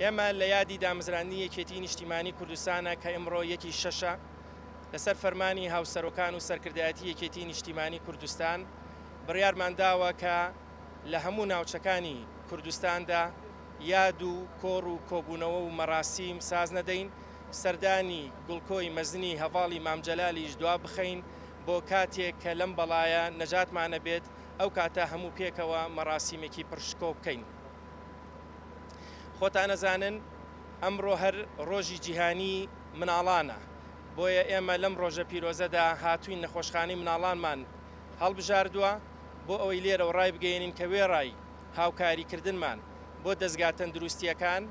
ئێمە لە یادی دامزراندنی یەکێتیی نیشتیمانیی کوردستانە کە ئمڕۆ یەک ی شەشە، لەسەر فەرمانی هاوسەرۆکان و سەرکردایەتی یەکێتیی نیشتیمانیی کوردستان بڕیارمان داوە کە لە هەموو ناوچەکانی کوردستاندا یاد و کۆڕ و کۆبوونەوە و مەراسیم ساز نەدەین، سەردانی گڵکۆی مەزنی هەڤاڵی مام جەلالیش دوا بخەین بۆ کاتێک کە لەم بەڵایە نەجاتمان نەبێت، ئەو کاتە هەموو پێکەوە مەراسیمێکی پڕ شکۆ بکەین. خۆتان ئەزانن ئەمڕۆ هەر ڕۆژی جیهانی مناڵانە، بۆیە ئێمە لەم ڕۆژە پیرۆزەدا هاتووین نەخۆشخانەی مناڵانمان هەڵبژاردووە بۆ ئەوەی لێرەوە ڕایبگەیەنین کە وێڕای هاوکاریکردنمان بۆ دەزگا تەندروستییەکان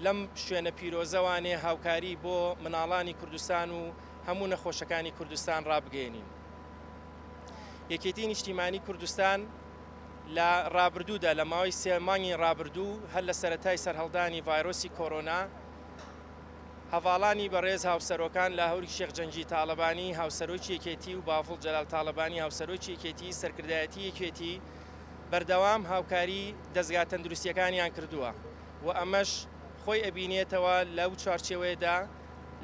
لەم شوێنە پیرۆزەوانێ هاوکاری بۆ مناڵانی کوردستان و هەموو نەخۆشەکانی کوردستان ڕابگەیەنین. یەکێتی نیشتیمانی کوردستان لە ڕابردوودا لە ماوەی سێ مانگی ڕابردوو هەر لە سەرەتای سەرهەڵدانی ڤایرۆسی کۆرۆنا هەڤاڵانی بەڕێز هاوسەرۆکان لاهوری شێخ جەنگی تاڵەبانی هاوسەرۆکی یەکێتی و بافڵ جەلال تاڵەبانی هاوسەرۆکی یەکێتی سەرکردایەتی یەکێتی بەردەوام هاوکاری دەزگا تەندروستیەکانیان کردووە و ئەمەش خۆی ئەبینێتەوە لەو چوارچێوەیەدا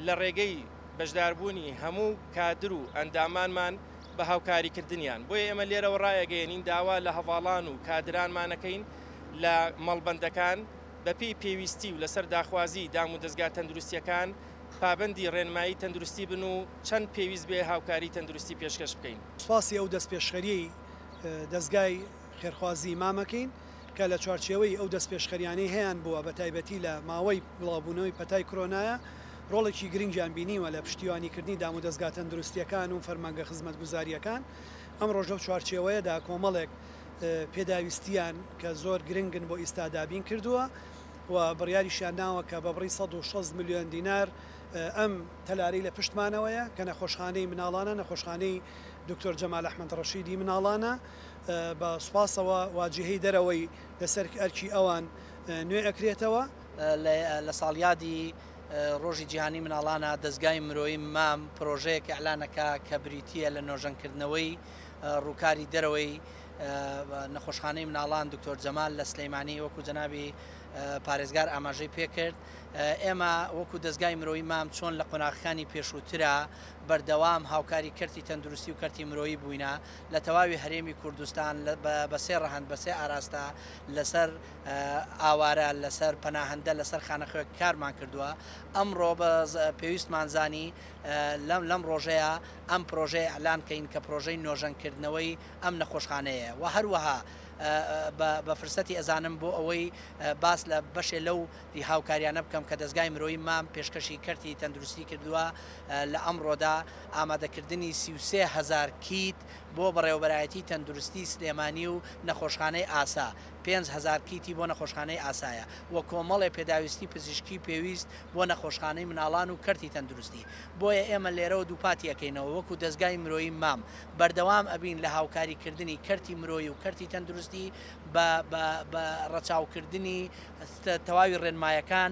لە ڕێگەی بەشداربوونی هەموو کادر و ئەندامانمان بە هاوکاریکردنیان، بۆیە ئێمە لێرەوە رایەگەیەنین داوا لە هەڤاڵان و کادرانمان ئەکەین لە مەڵبەندەکان بەپێی پێویستی و لەسەر داخوازی دامودەزگا تەندروستییەکان پابەندی رێنمایی تەندروستی بن و چەند پێویست بێ هاوکاری تەندروستی پێشکەش بکەین. سوپاسی ئەو دەستپێشخەرییەی دەزگای خێرخوازی مام ئەکەین. کە لە چوارچێوەی ئەو دەستپێشخەرییانەی هەیانبووە بە تایبەتی لە ماوەی بڵاوبوونەوەی پەتای کرۆنایا ڕۆڵێکی گرنگیان بینیوە لە پشتیوانیکردنی دامودەزگا تەندروستییەکان و فەرمانگە خزمەتگوزارییەکان ئەمڕۆش لەو چوارچێوەیەدا کۆمەڵێک پێداویستییان کە زۆر گرنگن بۆ ئیستا دابین کردووە و بڕیاریشیان ناوە کە بە بڕی سەد و شەست ملیۆن دینار ئەم تەلارەی لە پشتمانەوەیە کە نەخۆشخانەی مناڵانە نەخۆشخانەی دکتۆر جەمال ئەحمەد ڕەشیدی مناڵانە بە سوپاسەوە وا جیهەی دەرەوەی لەسەر ئەرکی ئەوان نوێ ئەکرێتەوە. لە ساڵیادی ڕۆژی جیهانی مناڵانا دەزگای مرۆیی مام پرۆژەیەک ئیعلان ئەکا کە بریتییە لە نۆژەن کردنەوەی ڕووکاری دەرەوەی نەخۆشخانەی مناڵان دکتۆر جەمال لە سلیمانی وەکو جەنابی پارێزگار ئاماژەی پێ کرد ئێمە وەکو دەزگای مرۆیی مام چۆن لە قۆناغەکانی پێشووترا بەردەوام هاوکاری کەرتی تەندروستی و کەرتی مرۆیی بووینە لە تەواوی هەرێمی کوردستان بە سێ ڕەهەند بە سێ ئاراستە لەسەر ئاوارە لەسەر پەناهەندە لەسەر خانەخوێک کارمان کردووە ئەمڕۆ بە پێویستمان زانی لەم لەم ڕۆژەیە ئەم پرۆژەیە ئەلان کەین کە پرۆژەی نۆژەنکردنەوەی ئەم نەخۆشخانەیە و هەروەها بە فرسەتی ئەزانم بۆ ئەوەی باس لە بەشێ لەو ی هاوکاریانە بکەم کە دەزگای مرۆیی مام پێشکەشی کەرتی تەندروستی کردووە لە ئەمڕۆدا ئامادەکردنی سی و سێ هەزار کیت بۆ بەڕێوەبەرایەتی تەندروستی سلێمانی و نەخۆشخانەی ئاسا پێنج هەزار کیتی بۆ نەخۆشخانەی ئاسایە و کۆمەڵێ پێداویستی پزیشکی پێویست بۆ نەخۆشخانەی مناڵان و کەرتی تەندروستی بۆیە ئێمە لێرەوە دووپاتی ئەکەینەوە وەکو دەزگای مرۆیی مام بەردەوام ئەبین لە هاوکاری کردنی کەرتی مرۆیی و کەرتی تەندروستی بە ڕەچاوکردنی تەواوی ڕێنمایەکان.